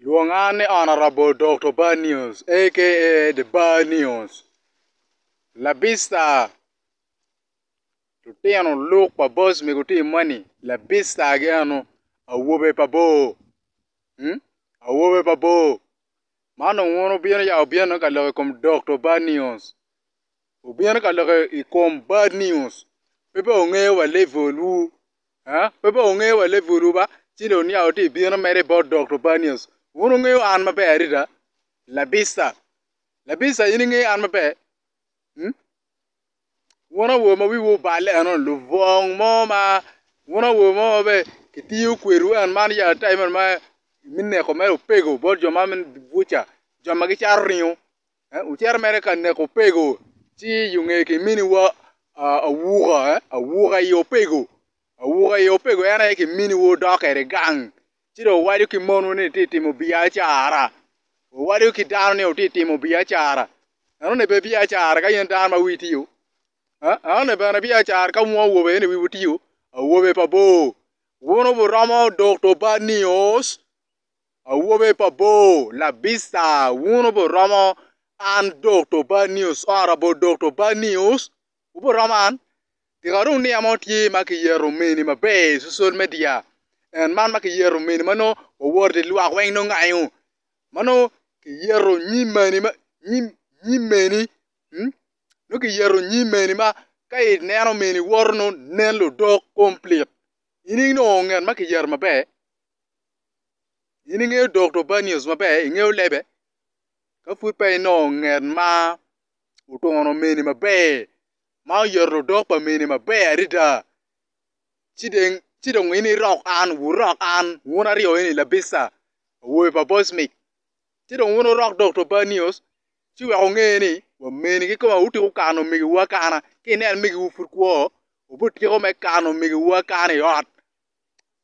Lwonga ni Honourable Dokto Bar News aka The Bar News labita lutino luk pa boss me gutim moni labita gi eno awobe pa bor awobe pa bor man dong wun wubino ya wubino ka loko i kom Dokto Bar News. Wubino ka lok i kom bad news pe pe wungeyo wa level wu ah pe pe wungeyo wa level wu ba ci dong niang wutye ka bino mere bot Dokto bad news wun wungeyo an maber adada labisa labisa in ingeyo an maber mm wun awobe ma wiwu oballe eno lubong mo ma wun awobe mo ma bene kitiyo kwedwu en man yat tayi man me neko mere opego bot jo ma buca jo ma gicato ringo eh wucito mere ka neko opego ci i onge kiminiwa awuka eh awuka i opego awuka i opego en aye kiminiwa wudok kwede gang ci dong wuwaco ki monwu ni wutye ka timo biacara wuwaco ki dano ni wutye ka timo biacara enoni pe biacara ka in dano ma wii tye o eh enoni bene biacara ka wun awobe ni wiwu tye o awobe pa bor wun wuromo dok to bad nio. Awobe pa bor labisa wun oburomo an Dokto Bad News ora bo Dokto Bad News wuburomo an tika dong niya mo tye ma kiyeto meni maber i cocol media en man ma kiyeto meni ma nongo wawoto lwak weng nongo ngayo ma nongo kiyeto nyim meni ma nyim meni nongo kiyeto nyim meni ma ka ineno meni woto nongo nen ludok kompilit in inongo ngat ma kiyeto maber. In ingeyo Dokta Obanius maber, ingeyo lebe. Ka pud peya inongo ngat ma oturo mene maber, ma oyero ludok pa mene maber adada, ci dong in irok an, wurok an, wun aryo eni labissa, awobe pa Bosmic. Ci dong wun wurok Dokta Obanius ci wek wunge ni wa mene kikome aye wutiko kano omegiwu akana. Ka ineno megiwu pud kwo, wubityeko me kano omegiwu akana i ot.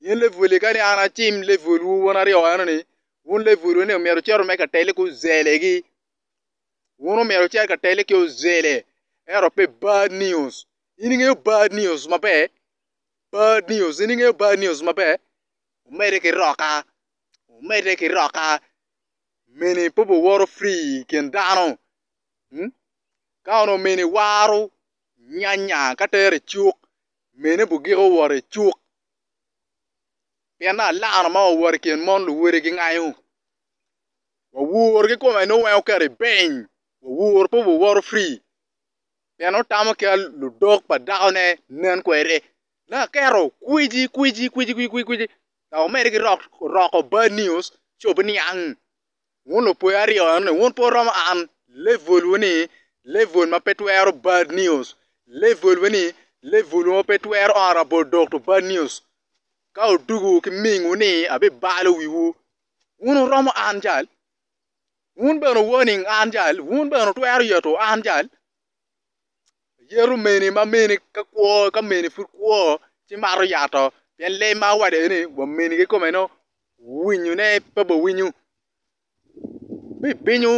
Pien Lebuel ye kadi an acim Lebuelwu wun aryo enoni, wun Lebuelwu-ni omyero wucit wunu ka tele ki ozelegi. Wun omyero wucit ka tele ki ozele, ento pe bad news. In ingeyo bad news maber? Bad news, in ingeyo bad news maber? Omedde ki roka, omedde ki roka, mene pe wuworo free i kin dano. Ka onongo mene waro nyanya ka tero i cuk, mene bugik owot i cuk, pien dong alaro ma owot i kin mon luwode gingayo. Wawor ki kome nongo weng oket i beny, wawor pe wawoto free, pien otamo ki ludok pa dakone nen kwede. Nongo aketo kwiji kwiji kwiji kwiji kwiji dok omedde ki roko bad news ci obiniang. Wun lupwe aryo enoni, wun pe wuromo an. Level wu ni level ma pe twero bad news. Level wu ni level ma pe twero oro labol dog to bad news. Ka odugu ki ming wu ni abibalo wi wu. Wun wuromo an jal. Wun bene warning an jal. Wun bene wutwero yeto an jal. Yeto mene ma mene ka kwo ka mene pud kwo ci mato yato pien lee ma wade ni wa mene kikome nongo winyo ne pe obin winyo bibinyo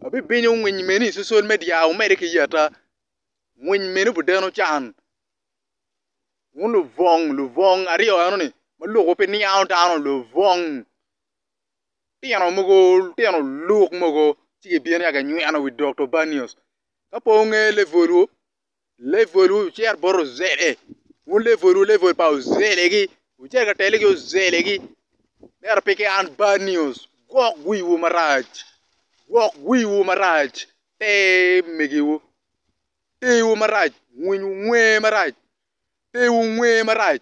abibinyo winy meni cecel me dyang omede ki yeta winy meni obi deno can wun lubwong lubwong aryo eno ni ma lok pe niango dano lubwong lutino mogo lutino luk mogo ci gibino ci ginyweno wi Dokto Banios ka po onge levolwu levolwu wucit bot ozele wun levolwu level pa ozelegi wucit ka telo ki ozelegi ento peke an Banios gwok wiwu marac gwok wiwu marac te megiwu tewu marac winyu nge marac tewu nge marac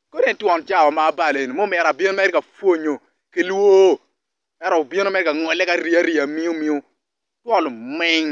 Kadi en twon cawa ma abalo eni mo myero abin mere ka pwonyo ki lwor ento obino mere ka ngole ki ariya riya miu miu twol oming.